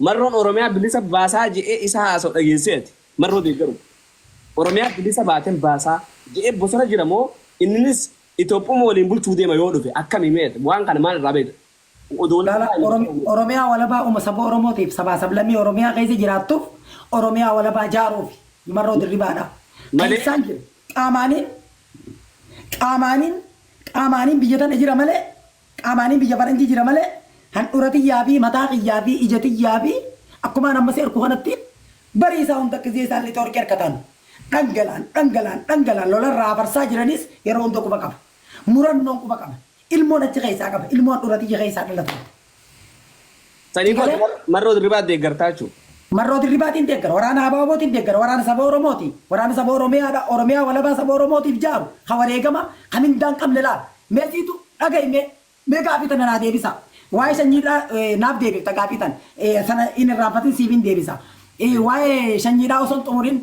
Marroon Oromiyaa bilisa baasaa je'ee isa haasa'u dhageessee ati Marroo deeggaru. Oromiyaa bilisa baaten baasaa je'ee bosona jira moo inninis Itoophuma waliin bulchuu deema yoo dhufe akkami mee ati waan kana maal irraa beekta? Odoolaalaa ani Oromiyaa waliin. Oromiyaa walabaa uuma saba Oromootiif sabaa sablammii Oromiyaa keessa jiraattuuf Oromiyaa walabaa jaaruufi Marroo Dirribaadha. Kan Malee. isaan jiru qaamaaniin qaamaaniin qaamaaniin biyya tana jira malee Qaamaanii biyya faranjii jira malee handhura tiyyaa fi mataa kiyyaa fi ija tiyyaa fi akkumaan amma si arku kanatti barii isaa hunda gizee isaan lixa warqii arkataan dhangalaan dhangalaan dhangalaan lola irraa afarsaa jiraniis yeroo hunda quba qaba. Murannoon quba qaba. Ilmoon achi keessaa qaba. Ilmoo handhura tiyya keessaa dhalatu qaba. Sanii Sii galee? booda Marroo Dirribaa deeggartaa jechuudha. Marroo Dirribaatiin deeggara, waraana Abaabootiin deeggara, waraana saba Oromooti, waraana saba Oromiyaadha, Oromiyaa walabaa saba Oromootiif jaaru, ka wareegama, ka mindaa hin qabne laala. Mee siitu dhagahi mee, mee gaafii tana naa deebisaa. Waa'ee sanyiidhaa eh, naaf deebifta gaafii tana. Eh, sana hin irraanfatin siifin deebisa. Eh, waa'ee sanyiidhaa osoo hin xumurin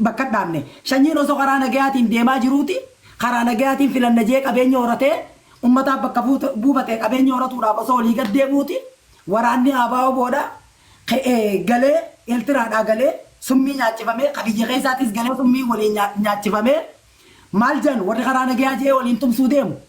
bakka dhaabne. Shanyiin osoo karaa nagayaatiin deemaa jiruuti karaa nagayaatiin filanna jedhee qabeenya horatee ummataaf bakka buufate qabeenya horatuudhaaf osoo olii gad deemuuti waraanni ABO-wbo dha ka'ee galee Eeltiraadhaa galee summii nyaachifamee ka biyya keessaatiis galee summii waliin nyaachifamee maal jedhan warri karaa nagayaa jedhee waliin tumsuu deemu.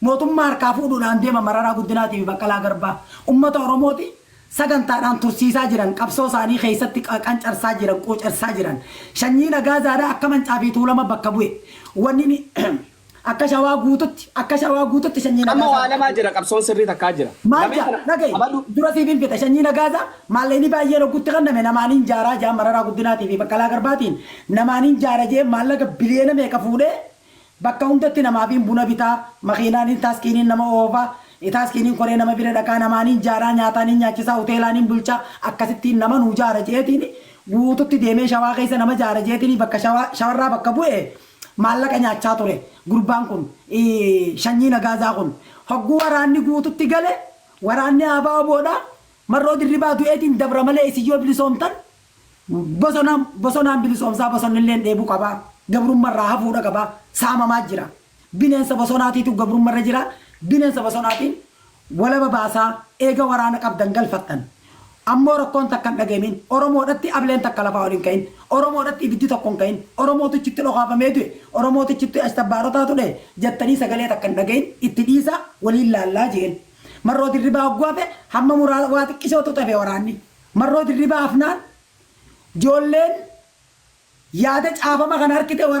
Mootummaa harkaa fuudhuudhaan deema Mararaa Guddinaatii fi Baqqalaa Garbaa ummata Oromooti sagantaadhaan tursiisaa jiran, qabsoo isaanii keessatti qancarsaa jiran, quucarsaa jiran. Shanyiin Agaazaadaa akka Mancaa fi Tuulama bakka bu'e. Wanni akka Shawaa guututti, akka Shawaa guututti Shanyiin Amma Agaazaa waa bakka lamaa bu'e. jira qabsoon sirrii takkaa jira. Maal Lameen jaa? kana Dhagayi. qabadhu. Dura siif hin fixa. Shanyiin Agaazaa maallaqni baay'een hoggutti kenname namaan hin jaaraa jaan Mararaa Guddinaatii fi Baqqalaa Garbaatiin namaan hin jaara jee maallaqa biliyeena meeqa fuudhee Bakka hundatti namaafiin buna bitaa, makiinaaniin taaskiiniin nama oofa, taaskiiniin koree nama bira dhaqaa, namaaniin jaaraa, nyaataaniin nyaachisaa, huteelaaniin bulchaa, akkasittiin nama nuu jaara je'eetiin guututti deemee shawaa keessa nama jaara je'eetiin bakka shawaa shawarraa bakka bu'ee maallaqa nyaachaa ture gurbaan kun shanyii nagaazaa kun. Hogguu waraanni guututti gale waraanni ABO-dha, Marroo Dirribaa du'eetiin dabra malee isin yoo bilisoomtan, Bosona bosonaan bilisoomsaa bosonnilleen dheebuu qaba. Gabrumma irraa hafuudha qaba. Saamamaa jira. Bineensa bosonaatiitu gabrumma irra jira. Bineensa bosonaatiin walaba baasaa eega waraana qabdan galfattan. Ammoo rakkoon takka hin dhageemiin. Oromoodhatti ableen takka lafaa ol hin ka'in. Oromoodhatti ibiddi tokko hin ka'in. Oromootu ichitti dhokaafamee du'e. Oromootu ichitti ashtabbaarotaatu dhahe jattanii sagalee takka hin dhagayin. Itti dhiisaa waliin laallaa jeen. Marroo Dirribaa hogguu hafe hamma muraa waa xiqqishootu tafe waraanni. Marroo dirribaa hafnaan joolleen yaada caafama kana harkite waraabde.